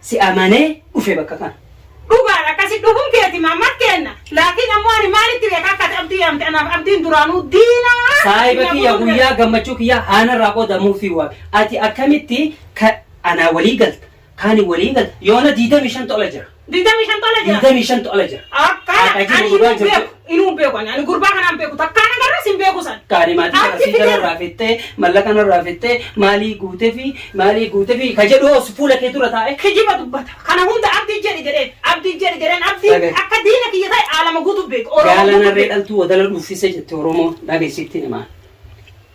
si amanee dhufe bakka kana. Dhugaadha akkasi dhufuun keeti maammaat keenna laakiin ammoo ani maalitti beeka akka ati abdii yaamte anaaf abdiin duraanuu diina Saahiba kiyya guyyaa gammachuu kiyya aanarraa qoodamuu fi waame. Ati akkamitti ka anaa walii galta kaani walii galta yoona 25 tola jira. 25 tola jira. 25 tola jira. Akka Haqa jiru ani dhugaa hin jirtu. beeku. Inuu hin beeku ani. Ani gurbaa kanaan beeku. Takkaa na garras hin beeku san. Kaani maatii Achi sarasii fidee- kanarraa fittee mallaqa kanarraa fittee maalii guutefi maalii guutefi ka jedhu hoos fuula kee dura taa'e. Kijiba dubbata. Kana hunda abdii jedhi jedheen. Abdii jedhi jedheen. Abdii Sabe. akka diina kiyya ta'e aalama guutuu beeku. Oromoo Gaalan guutuu harree beeku. dhaltuu wadala dhuuffise jette Oromoo dhageessitti namaa.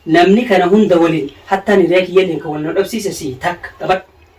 Namni kana hunda waliin hattaan hiree kiyya illee kan wal nu dhabsiise si takka qabadhu.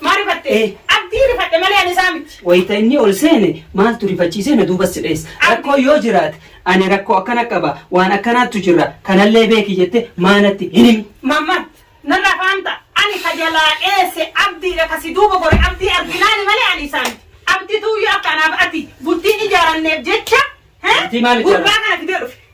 Maa rifatte? Ee. Abdii rifadhe malee ani isaa miti. Wayita inni ol seene maaltu rifachiisee na duuba si dheessa? Abdi. Rakkoon yoo jiraate ani rakkoo akkana qaba, waan akkanaattu jirra, kanallee beeki jettee maa natti hin himi? Mammad, narraa fahamta? Ani ka jalaa dheesse Abdiidha ka si duuba gore Abdii arginaani malee ani isaa miti. Abdituuyyuu akka anaaf ati bultiin ijaaranneef jecha he? Bultii maal ijaaran? Gurbaa kana fidee dhufe.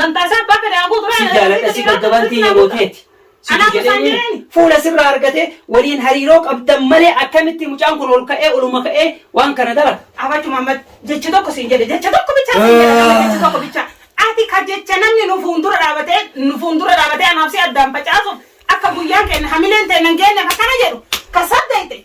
Namtaasaa abbaa fedhe haa guutu. Si jaaladha si gaggaban tiyya mooteeti. Situ jedhee fuula sirraa argatee waliin hariiroo qabdan malee akkamitti mucaan kun ol ka'ee oluma ka'ee waan kana dalata. Abachu Muhammad jecha tokko siin jedhe jecha tokko bichaa siin jedhe nama jecha tokko bichaa ati ka jecha namni nu fuuldura dhaabatee nu fuuldura dhaabatee anaaf si addaan facaasuuf akka guyyaan keenya hamileen ta'e nan geenyeef akkana jedhu ka saddeete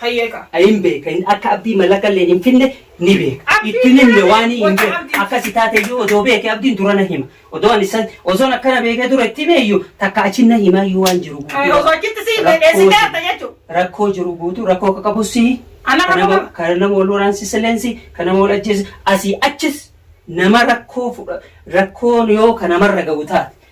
Tayyee ka. a hin beeka hin akka abdii malaqa illeen hin finne ni beeka Abdii itti hin himne waan hin wanta beeku abdii. akkasi taate iyyuu odoo beeke abdiin dura na hima odoo ani san osoon akkana beekee dura itti hime iyyuu takka achi na himaa iyyuu waan jiru Ay, guutuu osoo achitti si himee dheessi Rakkoo gaafta jechuun. rakkoo jiru guutuu rakkoo akka qabu si Ana kan nama- qabu- kan nama wal waraansiise leensi kan nama wal ajjeese asii achis nama rakkoo fudha rakkoon yoo kan namarra ga'u taate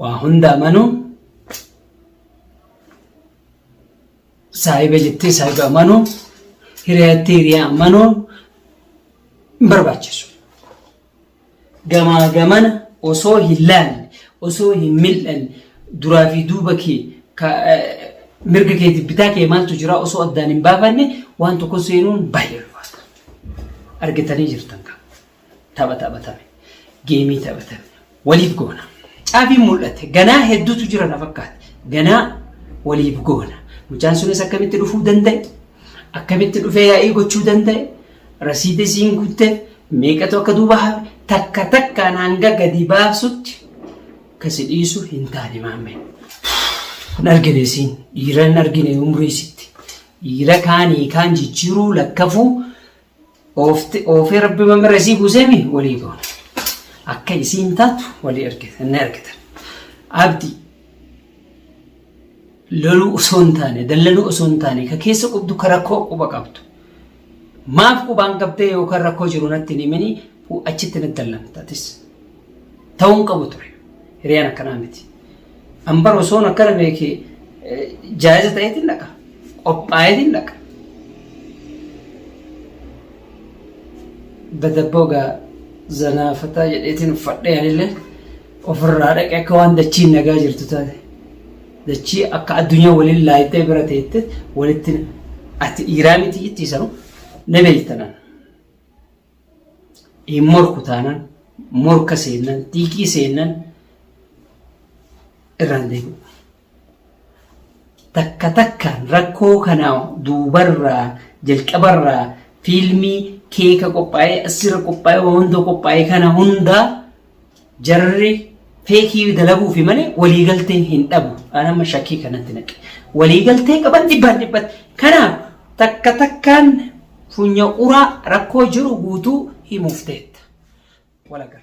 waa hunda amanu saahiba jettee saahiba amanu hiriyaa jettee hiriyaa amanu hin barbaachisu. Gamaa gamana osoo hin laalle osoo hin mil'anne duraa fi duuba kee mirga keetiif bitaa kee maaltu jira osoo addaan hin baafanne waan tokko seenuun baay'ee ulfaata. Argitanii jirtan kan. Tapha taphatame. Geemii taphatame. Waliif goona. Caabiin mul'ate. Ganaa hedduutu jira na fakkaata. Ganaa waliif goona. Mucaan sunis akkamitti dhufuu danda'e? Akkamitti dhufee yaa'ii gochuu danda'e? Rasiida isiin guutte meeqatu akka duuba hafe takka takkaan hanga gadi baasutti kasi dhiisu hin taane maammee. Hin argine isiin dhiira hin argine umrii isitti. Dhiira kaanii kaan jijjiiruu lakkafuu oofee rabbi mamirra isii buuseemi walii goona akka isiin taatu walii argitan ni argitan abdi loluu osoo hin taane dallanuu osoo hin taane ka keessa qubdu ka rakkoo quba qabdu maaf qubaan qabdee yookaan rakkoo jiru natti hin himini achitti na dallamtatis. ta'uu hin qabu ture. Hiriyaan akkanaa miti. An bara osoon akkana beekee jaayiza ta'eetiin dhaqa. Qophaa'eetiin dhaqa. Badabboo gaa zanaafataa jedheetiin uffadhee anillee ofirraa dhaqe akka waan dachiin nagaa jirtu taate. Dachii akka addunyaa waliin laayittee bira teette walitti ati dhiiraa miti itti sanu na beektanan. hin morku taanaan morka seennan xiiqii seennan irraan deebi'u. Takka takkaan rakkoo kana duubarraa jalqabarraa fiilmii keeka qophaa'ee asirra qophaa'ee waan hunda qophaa'ee kana hundaa Jarri feekii dalaguufi malee waliigaltee hin dhabu. An amma shakkii kanatti naqe. Waliigaltee qaban dhibbaan dhibbatti. Kanaaf takka takkaan funya uraa rakkoo jiru guutuu himuuf teetta. Walagarra.